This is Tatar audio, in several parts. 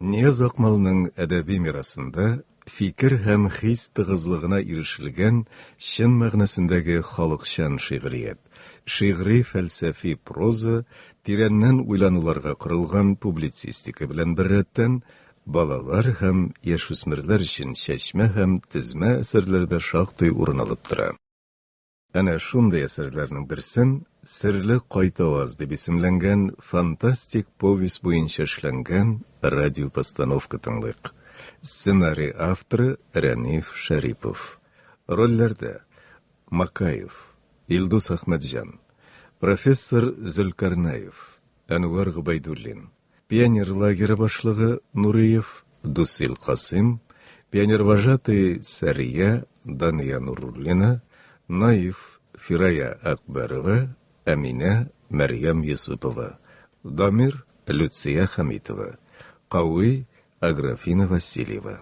Нияз Акмалның әдәби мирасында фикер һәм хис тыгызлыгына ирешелгән чын мәгънәсендәге халыкчан шигърият, шигъри-фәлсәфи проза, тирәннән уйлануларга корылган публицистика белән беррәттән, балалар һәм яшүсмерләр өчен чәчмә һәм тезмә әсәрләре дә шактый урын алып тора. Әнә шундый әсәрләрнең берсен Серле кайтаваз дип исемләнгән фантастик повесть буенча эшләнгән радиопостановка тыңлыйк. Сценарий авторы Рәниф Шәрипов. Рольләрдә Макаев, Илдус Әхмәтҗан, профессор Зөлкарнәев, Әнвәр Гобәйдуллин, пионер лагеры башлыгы Нуриев, Дусил Касыйм, пионервожатый Сәрия, Дания Нуруллина, Наиф, Фирая Акбәрова, Әминә, Мәрьям Йосыпова, Дамир, Люция Хәмитова, Кави, Аграфина Васильева.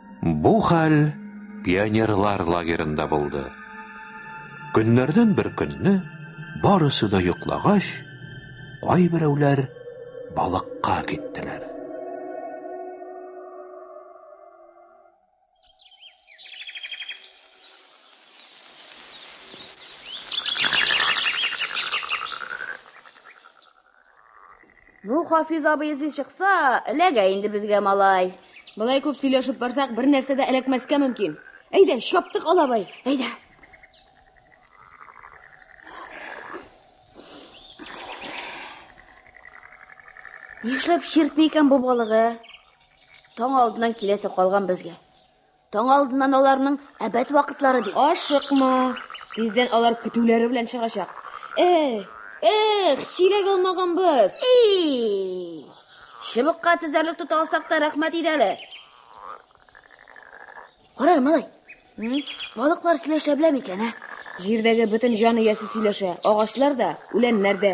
Бу хәл пионерлар лагерында булды. Көннәрдән бер көнне барысы да йоклагач, кайберәүләр балыкка киттеләр. Ну, Хафиз абый эзли чыкса, эләгә инде безгә малай. Былай күп сөйләшеп барсак, бер нәрсә дә эләкмәскә мөмкин. Әйдә, чаптык алабай, әйдә. Нишләп чиртми икән бу балыгы? Таң алдыннан киләсе калган безгә. Таң алдыннан аларның әбәт вакытлары ди. Ашыкма, тиздән алар көтүләре белән чыгачак. Эх, эх, чиләк алмаганбыз. И! Чыбыкка тезәрлек тота алсак та рәхмәт иде әле. Кара, малай. Балыклар сөйләшә белә микән, ә? Җирдәге бөтен җан иясе сөйләшә, агачлар да, үләннәр дә.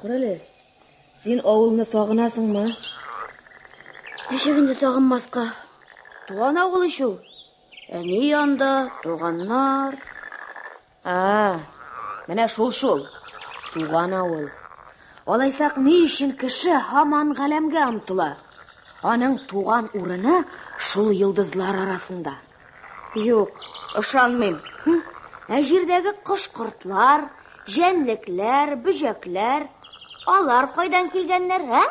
Күрәле, син авылны сагынасың ма? Ничек инде сагынмаска? Туган авыл ич ул. Әни янда, туганнар. А, менә шул шул. Туган авыл. Алайсак ни өчен кеше һаман галәмгә омтыла? Аның туган урыны шул йолдызлар арасында. Юк, ышанмыйм. Ә җирдәге кош-кортлар, җәнлекләр, бөҗәкләр, алар кайдан килгәннәр, ә?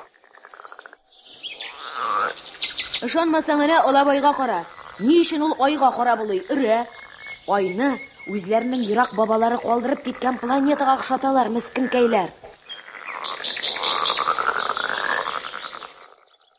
Ышанмасаң, әнә Алабайга кара. Ни өчен ул айга кара булый, өрә? Айны үзләренең ерак бабалары калдырып киткән планетага охшаталар, мескенкәйләр.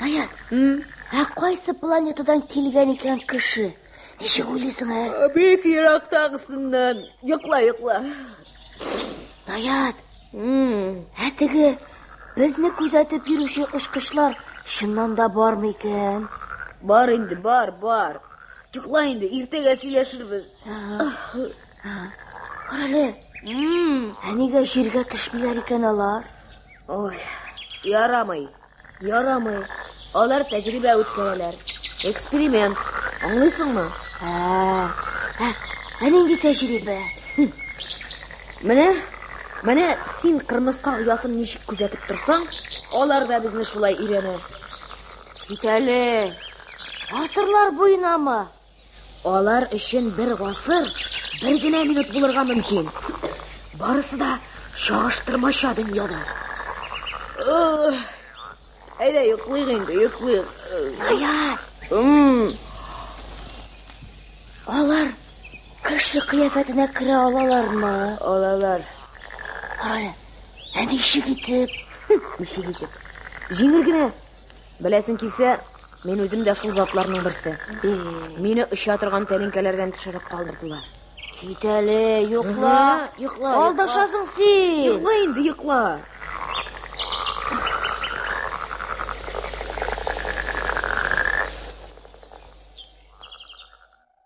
Наят, ә кайсы планетадан килгән икән кеше? Ничек уйлыйсың, ә? Бик ерактагысыннан. Йокла, йокла. Наят, ә теге безне күзәтеп йөрүче очкычлар чыннан да бармы икән? Бар инде, бар, бар. Йокла инде, иртәгә сөйләшербез. Карале. Әнигә җиргә төшмиләр икән алар. Ой, ярамый. Ярамый. Алар тәҗрибә үткәрәләр. Эксперимент. Аңлыйсыңмы? Ә, ә, ә нинди тәҗрибә? Менә, менә син кырмыска оясын ничек күзәтеп торсаң, алар да безне шулай өйрәнә. Китәле. Асырлар буенамы? Алар өчен бер гасыр бер генә минут булырга мөмкин. Барысы да чагыштырмача дөньяда. Әйдә, йоклыйк инде, йоклыйк. Аяр. Алар кеше кыяфәтенә керә алалармы? Алалар. Ай, әни ишек итеп. Ишек итеп. Җиңел генә Беләсең килсә, мин үзем дә шул затларның берсе. Мине оча торган тәлинкәләрдән төшереп калдырдылар. Кит әле, йокла. Йокла. Алдашасың син. Йокла инде, йокла.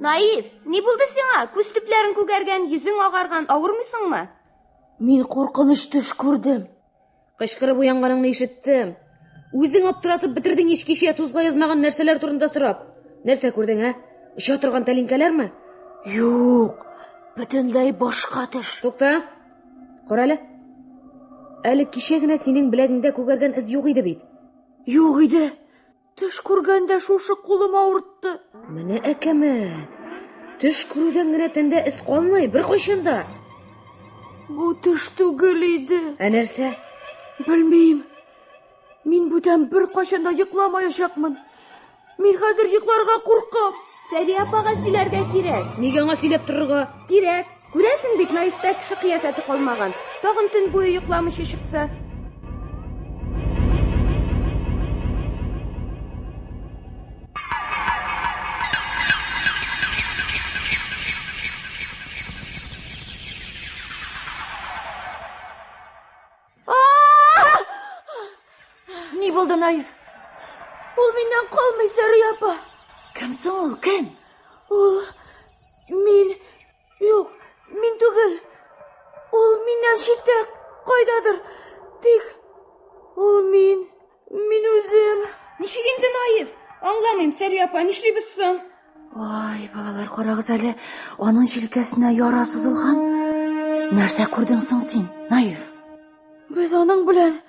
Наив, ни булды сиңа? Күз төпләрен күгәргән, йөзең агарган, авырмыйсыңмы? Мин куркыныч төш күрдем. Кычкырып уянганыңны ишеттем. Үзең аптыратып бетердең ич кичә тузга язмаган нәрсәләр турында сорап. Нәрсә күрдең, ә? Оча торган тәлинкәләрме? Юк, бөтенләй башка төш. Тукта. Кара әле. Әле кичә генә синең беләгеңдә күгәргән эз юк иде бит. Юк иде. Төш күргәндә шушы кулым авыртты. Менә әкәмәт. Төш күрүдән генә тәндә эз калмый, беркайчан да. Бу төш түгел иде. Ә нәрсә? Белмим. Мин бүтән беркайчан да йокламаячакмын. Мин хәзер йокларга куркам. Сәвия апага сөйләргә кирәк. Нигә аңа сөйләп торырга? Кирәк. Күрәсең бит, Наифтә кеше кыяфәте калмаган. Тагын төн буе йокламыйча чыкса. Ни булды, Наив? Ул миннән калмый, Сәрия апа. Кем соң ул, кем? Ул мин юк, мин түгел. Ул миннән читтә, кайдадыр. Тик ул мин. Мин үзем. Ничек инде наив? Аңламыйм, Сәрия апа, нишлибез соң? Ай, балалар, карагыз әле, аның җилкәсенә яра сызылган. Нәрсә күрдең соң син, наив? Без аның белән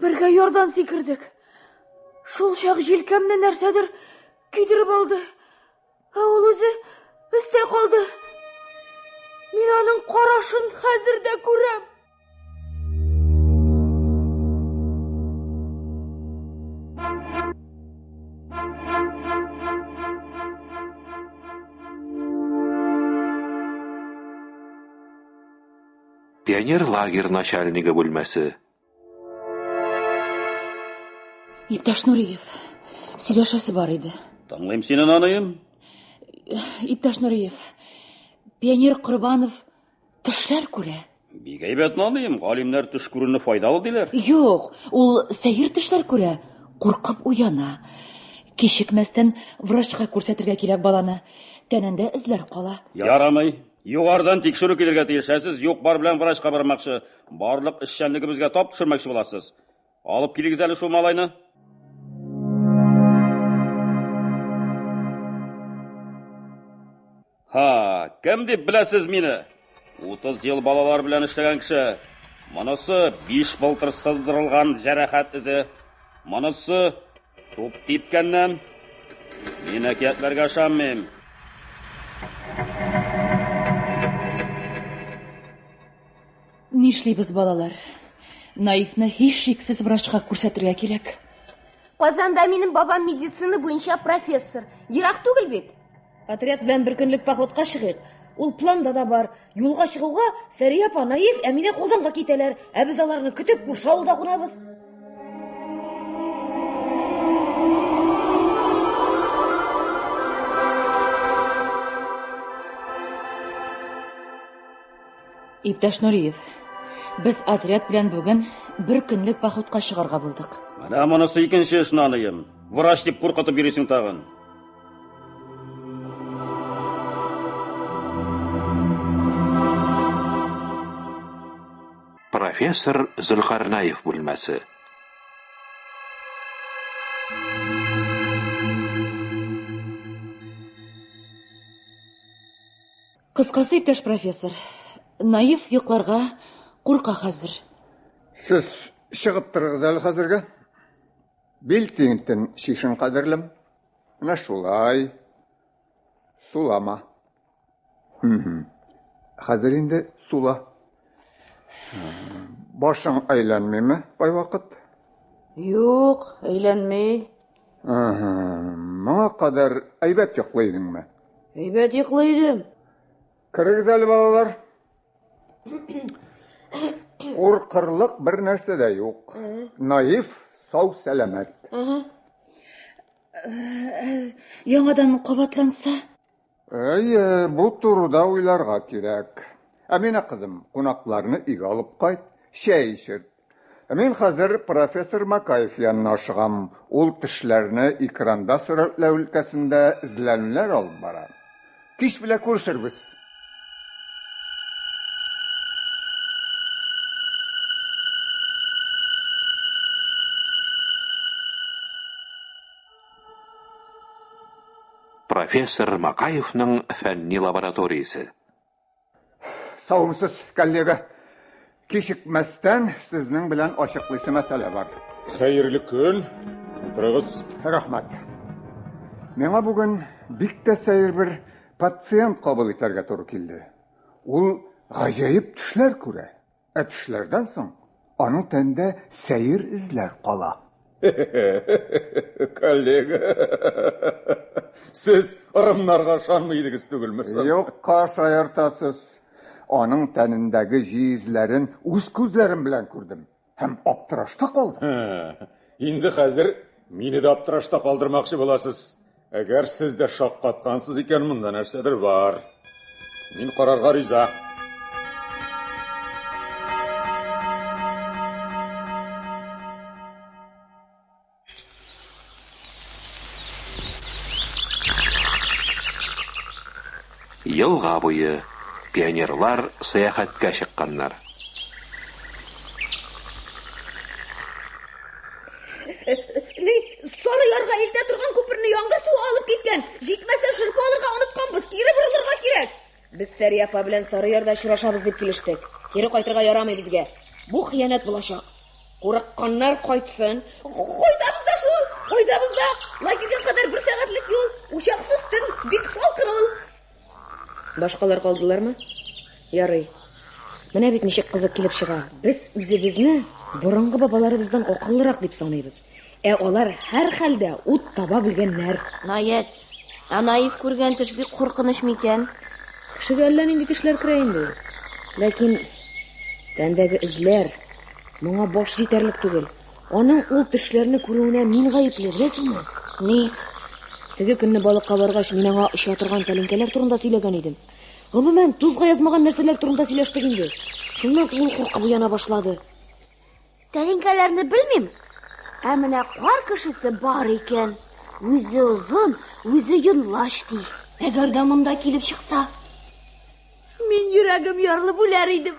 бергә ярдан сикердек. Шул чак җилкәмне нәрсәдер көйдереп алды. Ә ул үзе өстә калды. Мин аның карашын хәзер дә күрәм. Пионер лагерь начальнигы бүлмәсе. Иптәш Нуриев, сөйләшәсе бар иде. Тыңлыйм сине, наныем. Иптәш Нуриев, пионер Корбанов төшләр күрә. Бик әйбәт, наныем. Галимнәр төш күрүне файдалы диләр. Юк, ул сәер төшләр күрә, куркып уяна. Кичекмәстән врачка күрсәтергә кирәк баланы. Тәнендә эзләр кала. Ярамый. Югарыдан тикшерү килергә тиеш, ә сез юк-бар белән врачка бармакчы, барлык эшчәнлегебезгә тап төшермәкче буласыз. Алып килегез әле шул малайны. Ха, кем дип беләсез мине? 30 ел балалар белән эшләгән кеше. Монысы биш былтыр сыздырылган җәрәхәт эзе. Монысы Туп типкәннән. Мин әкиятләргә ышанмыйм. Нишлибез, балалар? Наивны һич шиксез врачка күрсәтергә кирәк. Казанда минем бабам медицина буенча профессор. Ерак түгел бит. Отряд белән бер көнлек походка чыгыйк. Ул планда да бар. Юлга чыгуга Сәрия апа, Наив, Әминә Казанга китәләр. Ә без аларны көтеп күрше авылда кунабыз. Иптәш Нуриев, без отряд белән бүген бер көнлек походка чыгарга булдык. Менә монысы икенче эш, наныем. Врач дип куркытып йөрисең тагын. Профессор Зөлкарнаев бүлмәсе. Кыскасы, иптәш профессор, Наив йокларга курка хәзер. Сез чыгып торыгыз әле хәзергә. Бил тиңтен шишен кадерлем. Менә шулай. Сулама. Хәзер инде сула. Башың әйләнмиме кайвакыт? Юк, әйләнми. Моңа кадәр әйбәт йоклый идеңме? Әйбәт йоклый идем. Кырыгыз әле балалар. Куркырлык бер нәрсә дә юк. Наив, сау, сәламәт. Ага. Яңадан кабатланса? Әйе, бу турыда уйларга кирәк. Әминә кызым, кунакларны өйгә алып кайт, чәй эчерт. Мин хәзер профессор Макаев янына ашыгам. Ул кешеләрне экранда сурәтләү өлкәсендә эзләнүләр алып бара. Кич белә күрешербез. профессор Макаевның фәнни лабораториясе. Саумсыз, коллега. Кичекмәстән сезнең белән ачыклыйсы мәсьәлә бар. Хәерле көн. Утырыгыз. Рәхмәт. Миңа бүген бик тә сәер бер пациент кабул итәргә туры килде. Ул гаҗәеп төшләр күрә. Ә төшләрдән соң аның тәндә сәер эзләр кала. Коллега, сез ырымнарга ышанмый идегез түгелме соң? Юкка шаяртасыз. Аның тәнендәге җи эзләрен үз күзләрем белән күрдем һәм аптырашта калдым. Инде хәзер мине дә аптырашта калдырмакчы буласыз. Әгәр сез дә шаккаткансыз икән, монда нәрсәдер бар. Мин карарга риза. Елга буе пионерлар сәяхәткә чыкканнар. Ни, сары ярга илтә торган күперне яңгыр суы алып киткән. Җитмәсә, шырпы алырга онытканбыз. Кире борылырга кирәк. Без Сәрия апа белән сары ярда очрашабыз дип килештек. Кире кайтырга ярамый безгә. Бу хыянәт булачак. Курыкканнар кайтсын. Кайтабыз да шул, кайтабыз да. Лагерьга кадәр бер сәгатьлек юл, учаксыз төн, бик салкын ул. Башкалар калдылармы? Ярый. Менә бит ничек кызык килеп чыга. Без үзебезне борынгы бабаларыбыздан акыллырак дип саныйбыз. Ә алар һәрхәлдә ут таба белгәннәр. Наят, ә наив күргән төш бик куркыныч микән? Кешегә әллә нинди төшләр керә инде. Ләкин тәндәге эзләр моңа баш җитәрлек түгел. Аның ул төшләрне күрүенә мин гаепле, беләсеңме? Ни? Теге көнне балыкка баргач, мин аңа оча торган тәлинкәләр турында сөйләгән идем. Гомумән, тузга язмаган нәрсәләр турында сөйләштек инде. Шуннан соң ул куркып уяна башлады. Тәлинкәләрне белмим, ә менә кар кешесе бар икән. Үзе озын, үзе йонлач ди. Әгәр дә монда килеп чыкса, мин йөрәгем ярылып үләр идем.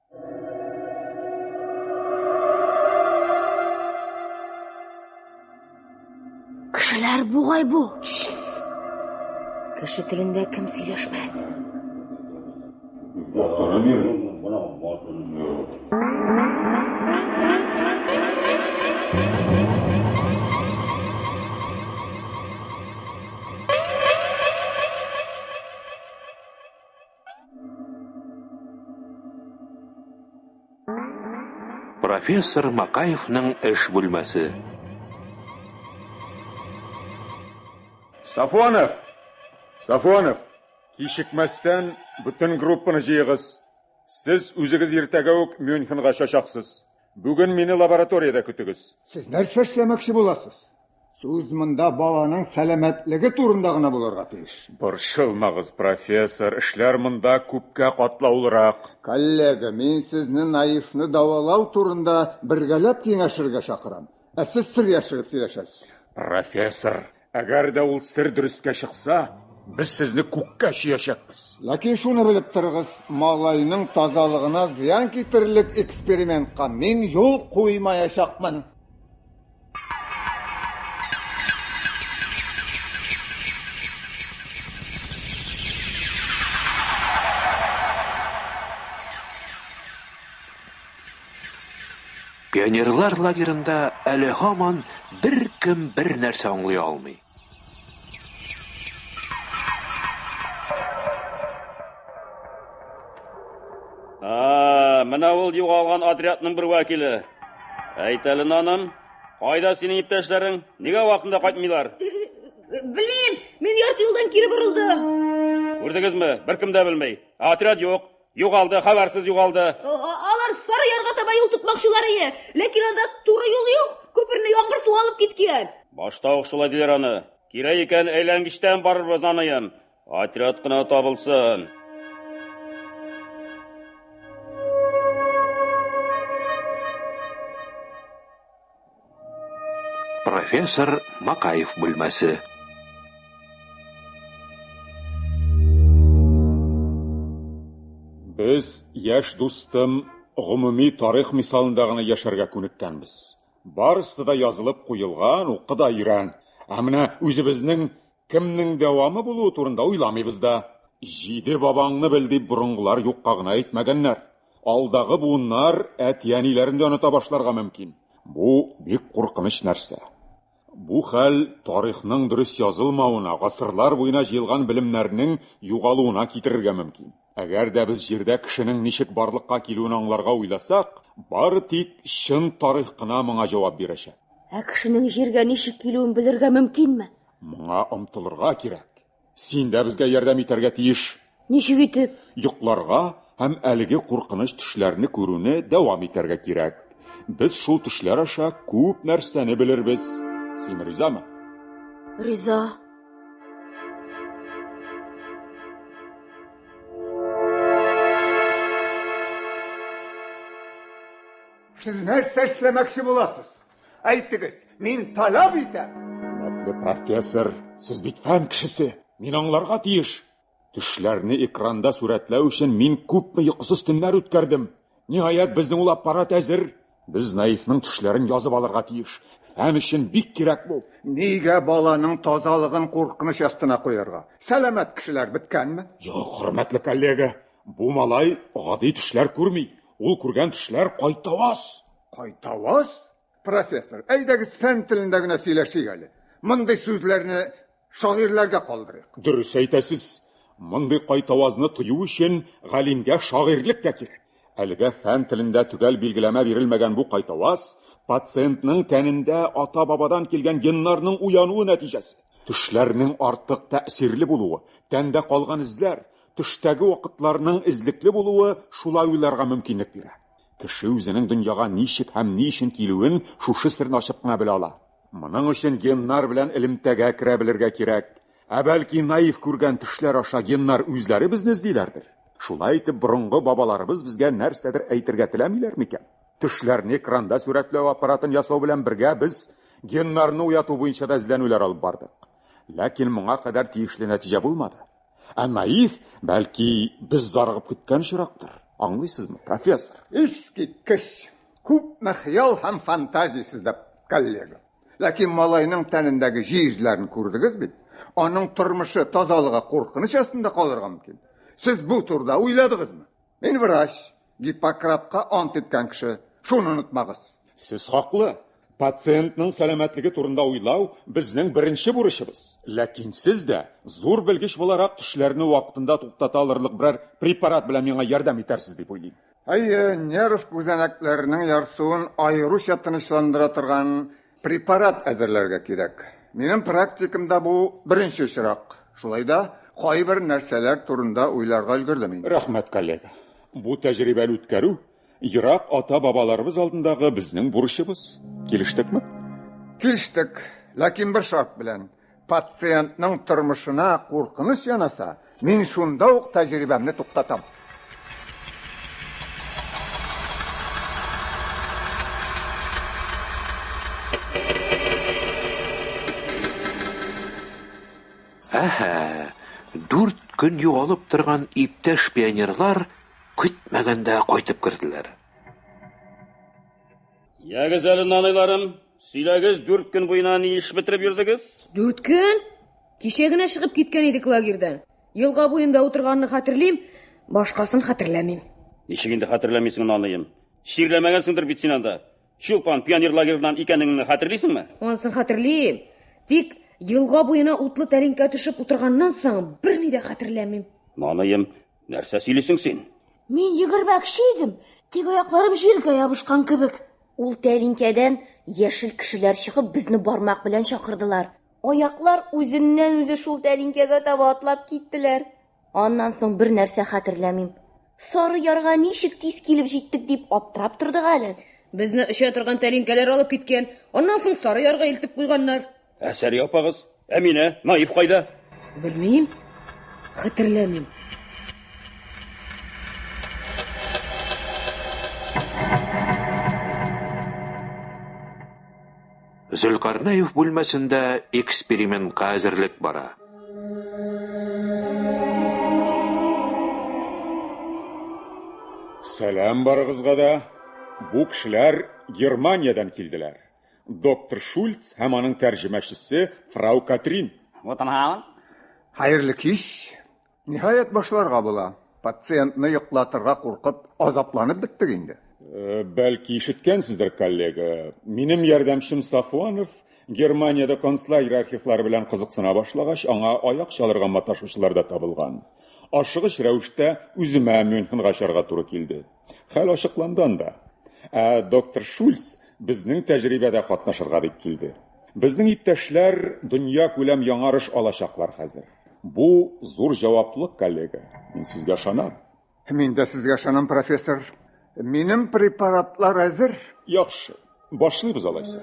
Кешеләр бугай бу. Кеше телендә кем сөйләшмәс? Профессор Макаевның эш бүлмәсе. Сафонов! Сафонов! Кичекмәстән бөтен группаны җыегыз. Сез үзегез иртәгә үк Мюнхенга чачаксыз. Бүген мине лабораториядә көтегез. Сез нәрсә эшләмәкче буласыз? Сүз монда баланың сәламәтлеге турында гына булырга тиеш. Борчылмагыз, профессор, эшләр монда күпкә катлаулырак. Коллега, мин сезне наивны дәвалау турында бергәләп киңәшергә чакырам. Ә сез сер яшереп сөйләшәсез. Профессор, әгәр дә ул сер дөрескә чыкса, без сезне күккә чөячәкбез. Ләкин шуны белеп торыгыз, малайның тазалыгына зыян китерерлек экспериментка мин юл куймаячакмын. Пионерлар лагерында әле һаман беркем бер нәрсә аңлый алмый. Менә ул югалган отрядның бер вәкиле. Әйтәлен аным, кайда синең иптәшләрең? Нигә вакытында кайтмыйлар? Белмим, мин ярты юлдан кире борылдым. Күрдегезме? Беркем дә белми. Отряд юк. Югалды, хәбәрсез югалды. Алар сары ярга таба юл тотмакчылар ие. Ләкин анда туры юл юк. Күперне яңгыр суы алып киткән. Башта ук шулай диләр аны. Кирәк икән, әйләнгечтән барырбыз аныем. Отряд кына табылсын. Профессор Макаев бүлмәсе. Без яшь дустым гомуми тарих мисалында гына яшәргә күнеккәнбез. Барысы да язылып куелган, укы да өйрән. Ә менә үзебезнең кемнең дәвамы булуы турында уйламыйбыз да. Җиде бабаңны бел дип борынгылар юкка гына әйтмәгәннәр. Алдагы буыннар әти-әниләрен дә оныта башларга мөмкин. Бу бик куркыныч нәрсә. Бу хәл тарихның дөрес язылмавына, гасырлар буена җыелган белемнәрнең югалуына китерергә мөмкин. Әгәр дә без Җирдә кешенең ничек барлыкка килүен аңларга уйласак, бары тик чын тарих кына моңа җавап бирәчәк. Ә кешенең Җиргә ничек килүен белергә мөмкинме? Моңа омтылырга кирәк. Син дә безгә ярдәм итәргә тиеш. Ничек итеп? Йокларга һәм әлеге куркыныч төшләрне күрүне дәвам итәргә кирәк. Без шул төшләр аша күп нәрсәне белербез. Син ризамы? Риза. Сез нәрсә эшләмәкче буласыз? Әйтегез, мин таләп итәм. Хөрмәтле профессор, сез бит фән кешесе. Мин аңларга тиеш. Төшләрне экранда сурәтләү өчен мин күпме йокысыз төннәр үткәрдем. Ниһаять, безнең ул аппарат әзер. Без Наифның төшләрен язып алырга тиеш. Фән өчен бик кирәк бу. Нигә баланың тазалыгын куркыныч астына куярга? Сәламәт кешеләр беткәнме? Юк, хөрмәтле коллега, бу малай гади төшләр күрми. Ул күргән төшләр кайтаваз. Кайтавыз, профессор, әйдәгез фән телендә генә сөйләшик әле. Мондый сүзләрне шагыйрьләргә калдырыйк. Дөрес әйтәсез. Мондый кайтавазны тою өчен галимгә шагыйрьлек тә кирәк. Әлегә фән телендә төгәл билгеләмә бирелмәгән бу кайтаваз пациентның тәнендә ата-бабадан килгән геннарның уянуы нәтиҗәсе. Төшләрнең артык тәэсирле булуы, тәндә калган эзләр, төштәге вакытларның эзлекле булуы шулай уйларга мөмкинлек бирә. Кеше үзенең дөньяга ничек һәм ни өчен килүен шушы серне ачып кына белә ала. Моның өчен геннар белән элемтәгә керә белергә кирәк. Ә бәлки наив күргән төшләр аша геннар үзләре безне эзлиләрдер? Шулай итеп, борынгы бабаларыбыз безгә нәрсәдер әйтергә теләмиләр микән? Төшләрне экранда сурәтләү аппаратын ясау белән бергә без геннарны уяту буенча да эзләнүләр алып бардык. Ләкин моңа кадәр тиешле нәтиҗә булмады. Ә наив, бәлки, без зарыгып көткән очрактыр. Аңлыйсызмы, профессор? Искиткеч! Күпме хыял һәм фантазия сездә, коллега. Ләкин малайның тәнендәге җиезләрен күрдегез бит. Аның тормышы, тазалыгы куркыныч астында калырга мөмкин. Сез бу турыда уйладыгызмы? Мин врач, Гиппократка ант иткән кеше. Шуны онытмагыз. Сез хаклы. Пациентның сәламәтлеге турында уйлау безнең беренче бурычыбыз. Ләкин сез дә, зур белгеч буларак, төшләрне вакытында туктата алырлык берәр препарат белән миңа ярдәм итәрсез дип уйлыйм. Әйе, нерв күзәнәкләренең ярсуын аеруча тынычландыра торган Препарат әзерләргә кирәк. Минем практикамда бу беренче очрак. Шулай да кайбер нәрсәләр турында уйларга өлгердем мин. Рәхмәт, коллега. Бу тәҗрибәне үткәрү ерак ата-бабаларыбыз алдындагы безнең бурычыбыз. Килештекме? Килештек, ләкин бер шарт белән. Пациентның тормышына куркыныч янаса, мин шунда ук тәҗрибәмне туктатам. Әһә, дүрт көн югалып торган иптәш пионерлар көтмәгәндә кайтып керделәр. Ягез әле, наныйларым. Сөйләгез, дүрт көн буена ни эш бетереп йөрдегез? Дүрт көн? Кичә генә чыгып киткән идек лагерьдан. Елга буенда утырганны хәтерлим, башкасын хәтерләмим. Ничек инде хәтерләмисең аныем? Чирләмәгәнсеңдер бит син анда. Чулпан, пионер лагерьнан икәнеңне хәтерлисеңме? Анысын хәтерлим. Тик елга буена утлы тәлинкә төшеп утырганнан соң берни дә хәтерләмим. Наныем, нәрсә сөйлисең син? Мин егермәкче идем, тик аякларым җиргә ябышкан кебек. Ул тәлинкәдән яшел кешеләр чыгып, безне бармак белән чакырдылар. Аяклар үзеннән-үзе шул тәлинкәгә таба атлап киттеләр. Аннан соң бер нәрсә хәтерләмим. Сары ярга ничек тиз килеп җиттек дип аптырап тордык әле. Безне оча торган тәлинкәләр алып киткән, аннан соң сары ярга илтеп куйганнар. Ә Сәрия апагыз? Әминә, Наив кайда? Белмим. Хәтерләмим. Зөлкарнәев бүлмәсендә экспериментка әзерлек бара. Сәлам барыгызга да. Бу кешеләр Германиядән килделәр. Доктор Шульц һәм аның тәрҗемәчесе фрау Катрин. Гутенхаун. Хәерле кич. Ниһаять башларга була. Пациентны йоклатырга куркып, азапланып беттек инде. Э, бәлки ишеткәнсездер, коллега. Минем ярдәмчем Сафуанов Германиядә концлагерь архивлары белән кызыксына башлагач, аңа аяк чалырга маташучылар да табылган. Ашыгыч рәвештә үземә Мюнхенга очарга туры килде. Хәл ачыкланган да. Ә доктор Шульц безнең тәҗрибәдә катнашырга дип килде. Безнең иптәшләр дөнья күләм яңарыш алачаклар хәзер. Бу зур җаваплык, коллега. Мин сезгә ышанам. Мин дә сезгә ышанам, профессор. Минем препаратлар әзер. Яхшы. Башлыйбыз алайса.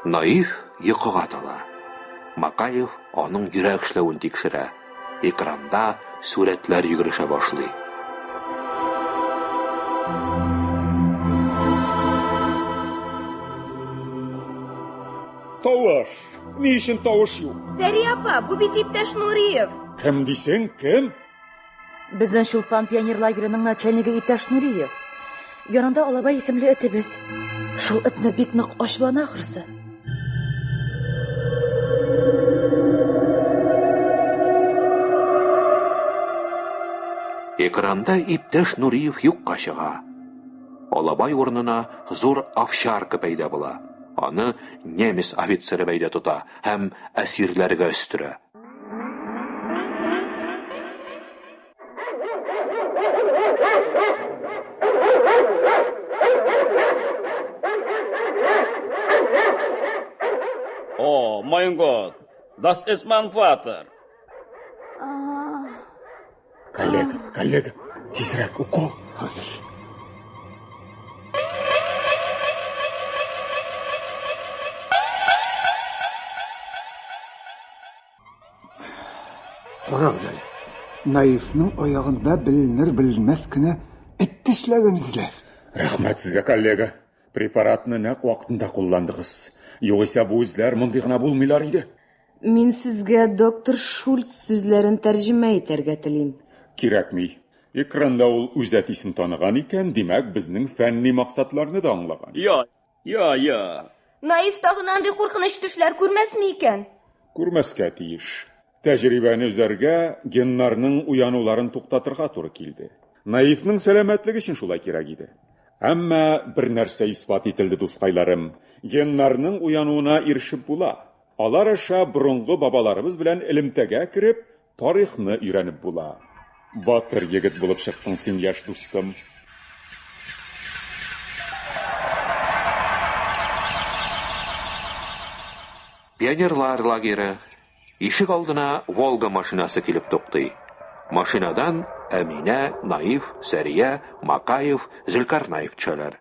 Наив йокыга тала. Макаев аның йөрәк эшләвен тикшерә. Экранда сурәтләр йөгерешә башлый. Тавыш! Ни өчен тавыш юк? Сәрия апа, бу бит иптәш Нуриев. Кем дисең, кем? Безнең Чулпан пионер лагерының начальнигы иптәш Нуриев. Янында алабай исемле этебез. Шул этне бик нык ачулана ахрысы. Экранда иптәш Нуриев юкка чыга. Алабай урынына зур овчарка пәйда була. Аны немец офицеры бәйдә тота һәм әсирләргә өстерә. О, май год! Дас эс ман фатер! Коллега, коллега, тизрәк укол хәзер. Карагыз әле. Наивның аягында беленер белмәс кенә эт тешләгән эзләр. Рәхмәт сезгә, коллега. Препаратны нәкъ вакытында кулландыгыз. Югыйсә бу эзләр мондый гына булмыйлар иде. Мин сезгә доктор Шульц сүзләрен тәрҗемә итәргә телим. Кирәкми. Экранда ул үз әтисен таныган икән, димәк, безнең фәнни максатларны да аңлаган. Я, я, я. Наив тагын андый куркыныч төшләр күрмәсме икән? Күрмәскә тиеш. Тәҗрибәне өзәргә, геннарның уянуларын туктатырга туры килде. Наивның сәламәтлеге өчен шулай кирәк иде. Әмма бер нәрсә исбат ителде, дускайларым. Геннарның уянуына ирешеп була. Алар аша борынгы бабаларыбыз белән элемтәгә кереп, тарихны өйрәнеп була. Батыр егет булып чыктың син, яшь дустым. Пионерлар лагере. Ишек алдына Волга машинасы килеп туктый. Машинадан Әминә, Наиф, Сәрия, Макаев, Зөлкарнаев төшәләр.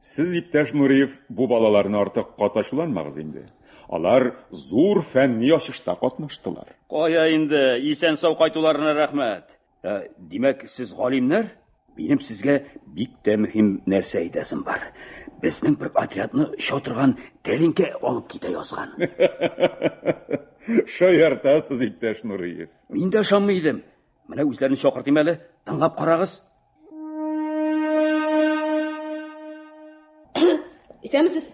Сез, иптәш Нуриев, бу балаларны артык кат ачуланмагыз инде. Алар зур фәнни ачышта катнаштылар. Кая инде, исән-сау кайтуларына рәхмәт. Ә, димәк, сез галимнәр? Минем сезгә бик тә мөһим нәрсә әйтәсем бар. Безнең бер отрядны чатырган тәлинкә алып китә язган. Шаяртасыз, иптәш Нуриев. Мин дә ышанмый идем. Менә үзләрен чакыртыйм әле, тыңлап карагыз. Исәмсез.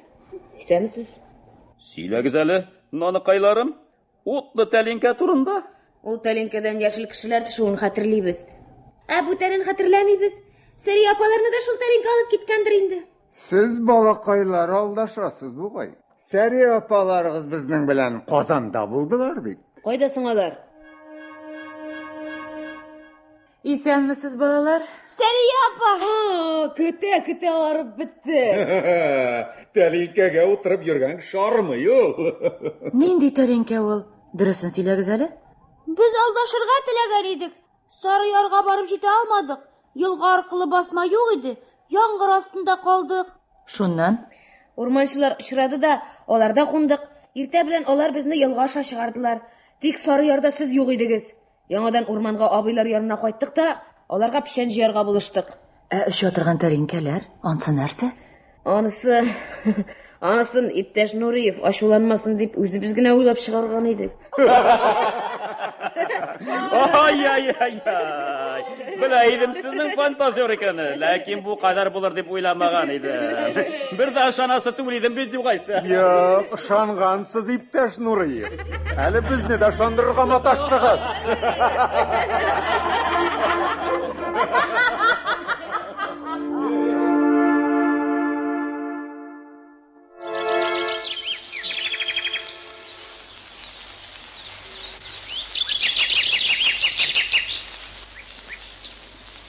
Исәмсез. Сөйләгез әле, наныкайларым. Утлы тәлинкә турында. Ул тәлинкәдән яшел кешеләр төшүен хәтерлибез. Ә бүтәнен хәтерләмибез. Сәри апаларны да шул тәлинкә алып киткәндер инде. Сез балакайлар алдашасыз бугай. Сәрия апаларыгыз безнең белән Казанда булдылар бит. Кайда соң алар? Исәнмесез, балалар. Сәрия апа! Көтә, көтә арып бетте. Тәлинкәгә утырып йөргән кеше армый ул. Нинди тәлинкә ул? Дөресен сөйләгез әле. Без алдашырга теләгән идек. Сары ярга барып җитә алмадык. Елга аркылы басма юк иде. Яңгыр астында калдык. Шуннан? Урманчылар очрады да, аларда кундык. Иртә белән алар безне елга аша чыгардылар. Тик Сары ярда сез юк идегез. Яңадан урманга абыйлар янына кайттык та, аларга печән җыярга булыштык. Ә өшә торган тәринкәләр, ансы нәрсә? Анысы, анысын иптәш Нуриев ачуланмасын дип үзебез генә уйлап чыгарган идек. Ай, ай, ай, ай. Белә идем сезнең фантазер икәне, ләкин бу кадәр булыр дип уйламаган идем. Бер дә ышанасы түгел идем бит югайсә. Юк, ышангансыз, иптәш Нуриев. Әле безне дә ышандырырга маташтыгыз.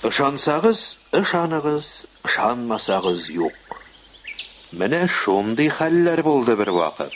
Ышансагыз, ышаныгыз, ышанмасагыз юк. Менә шундый хәлләр булды бервакыт.